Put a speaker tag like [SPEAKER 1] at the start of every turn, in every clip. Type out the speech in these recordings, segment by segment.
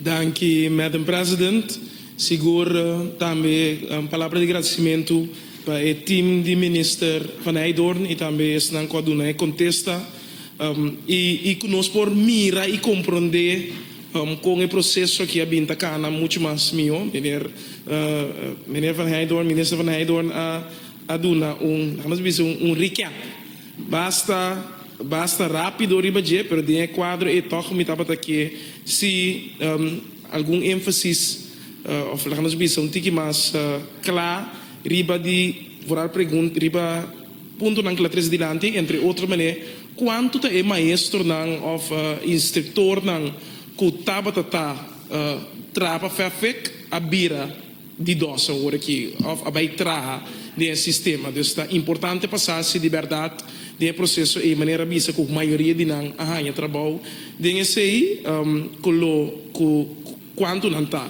[SPEAKER 1] Danki Madam President. Sigur tambe un palabra di gradisimentu pa e team di Minister Van Hijdoorn y tambe esnan cu a duna e contesta y cu nos por mira y compronde con e proceso aki a bin ta cana mucho mas miho. Meneer Van Hijdoorn, Minister Van Hijdoorn a duna un, la'nos bisa un recap. Basta basta rápido riba dje, pero den e kuadro ei tòg mi tabata ke si algun énfasis òf laga nos bisa un tiki mas kla riba di voral pregunta riba puntonan ku la tres dilanti, entre otro manera kuantu ta e maestronan òf instriktornan ku tabata ta traba fèfèk a bira. di dòse ora ki òf a bai traha den e sistema. Dus ta importante pa sa si di bèrdat den e proseso ei manera bisa ku mayoria di nan a haña trabou den esei, ku lo ku kuantu nan ta,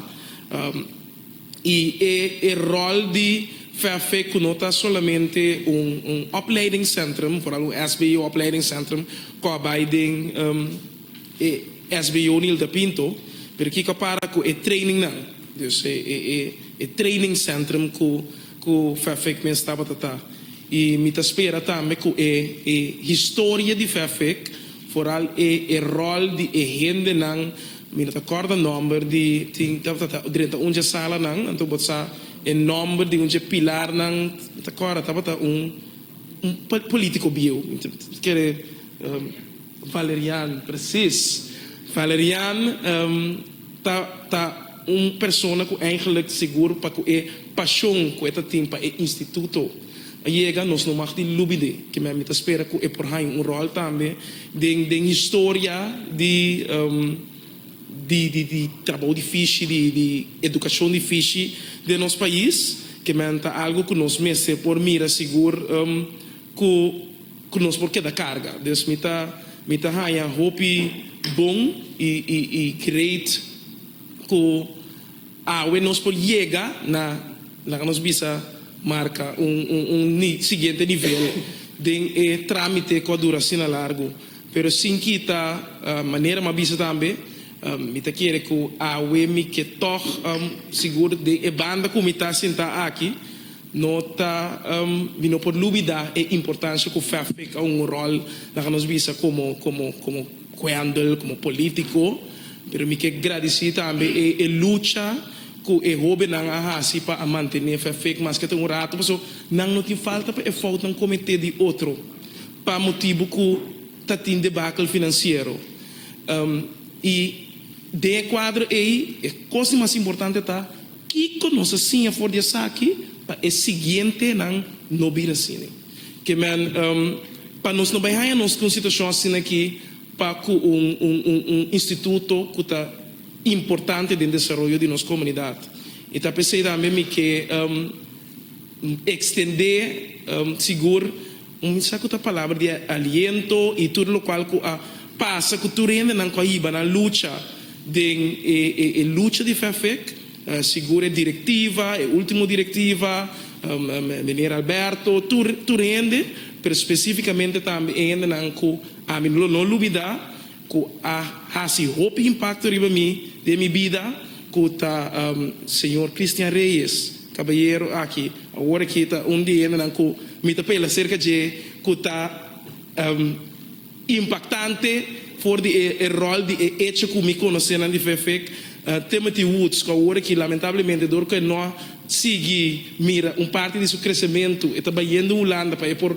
[SPEAKER 1] i e e ròl di VFV ku no ta solamente un un opleidingsentrum, foral un SBO opleidingsentrum, ku a bai den. E SBO Nilda Pinto, pero kico a para cu e trainingnan, dus e training centrum cu Fafec mes tabata ta. Y mi ta spera tambe cu e historia di Fafec, vooral e rol di e hendenan, mi no ta corda nomber di, tin tabata ta drenta un dje salanan, anto bo ta sa e nomber di un dje pilarnan, mi ta corda tabata un politico bieu, mi ta kere. Valerian, presis. Valerian ta ta un persona ku eigenlijk sigur pa ku e pashon ku e ta tin pa e instituto a yega, nos no mag tin lubi d'e. Kimen mi ta spera ku e por haña un ròl tambe den den historia di di di di trabou difishi, di di edukashon difishi den nos pais. Kimen ta algu ku nos mester por mira sigur ku. Ku nos por keda karga. Dus mi ta mi ta haña hopi bon i i i great ku awe nos por yega na laga nos bisa marka un un un ni siguiente nivel den e tramite ku a dura asina largu. Pero sin kita manera m'a bisa tambe mi ta kere ku awe mi ke tog sigur den e banda ku mi ta sinta aki No ta di no por lubidá e importancia cu Fafrik a hunga rol na nos bisa como como como cuendel, como politico. Pero mi ke gradici tambe e e lucha cu e hobennan a haci pa a mantene Fafrik mas ke ta un rato paso nan no tin falta pa e foutnan comete di otro pa motibo cu ta tin debacle financiero. Y den e cuadro ey e cos di mas importante ta. Kiko nos a siña for di esaki pa e siguientenan no bira asina? Ke men, pa nos no bai haña nos ku un situashon asina aki pa ku un un instituto ku ta importante den desaroyo di nos komunidat. I ta p'esei tambe mi ke ekstendé sigur. Un sa ku ta palabra di aliento i tur lokual ku a pasa ku tur hendenan ku a hiba nan lucha den e lucha di fèfèk, sigur e direktiva, e último direktiva, Meneer Alberto, tur tur hende, pero spesífikamente tambe e hendenan ku ami no lo olbidá. ku a hasi hopi impakto riba mi den mi bida, ku ta señor Christian Reyes, kabayero aki awor aki ta un di hendenan ku mi ta pela serka dje, ku ta impaktante for di e ròl di e echo ku mi konosenan di Vfec, Timothy Woods, ku awor aki lamentablemente dor ku e no a sigui mira un parti di su kresementu, e ta bayendo Hulanda pa e por.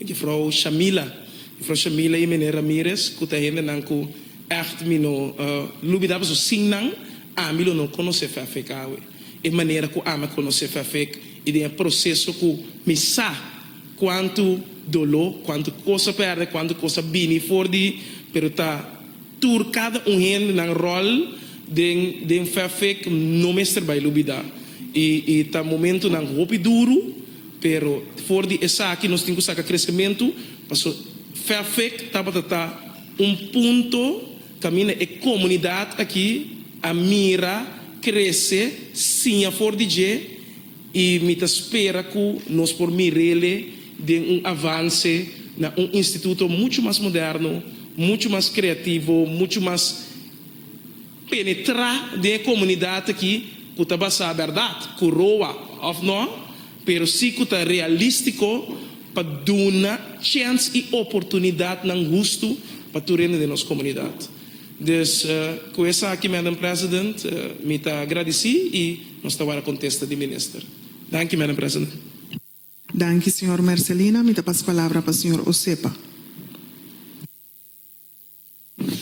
[SPEAKER 1] Jufrou Shamila. Jufrou Shamila y Mene Ramirez cu ta hendenan cu echt mi no lubida paso sin nan ami lo no conoce Fafek awe. E manera cu ami a conoce Fafek y den e proceso cu mi sa cuanto dolo, cuanto cos a perde, cuanto cos a bini for di pero ta tur cada un hendenan rol den den Fafek no mester bay lubida y y ta momentonan hopi duro. Pero for di esaki nos tin ku saka kresementu, pasobra Fairfax tabata ta un punto kaminda e komunidat aki a mira krese siña for di dje i mi ta spera ku nos por mir'ele den un avanse na un instituto muchu mas moderno, muchu mas kreativo, muchu mas. penetrá den e komunidat aki ku ta basá bèrdat, ku roa òf nò, pero si ku ta realístiko pa duna chèns i oportunidatnan hustu pa tur hende den nos komunidat. Dus, ku esaki, Madam President, mi ta agradisí i nos ta wòrdu kontesta di Minister. Danki, Madam
[SPEAKER 2] President. Danki, señor Mercelina. Mi
[SPEAKER 1] ta
[SPEAKER 2] pasa palabra pa señor Osepa.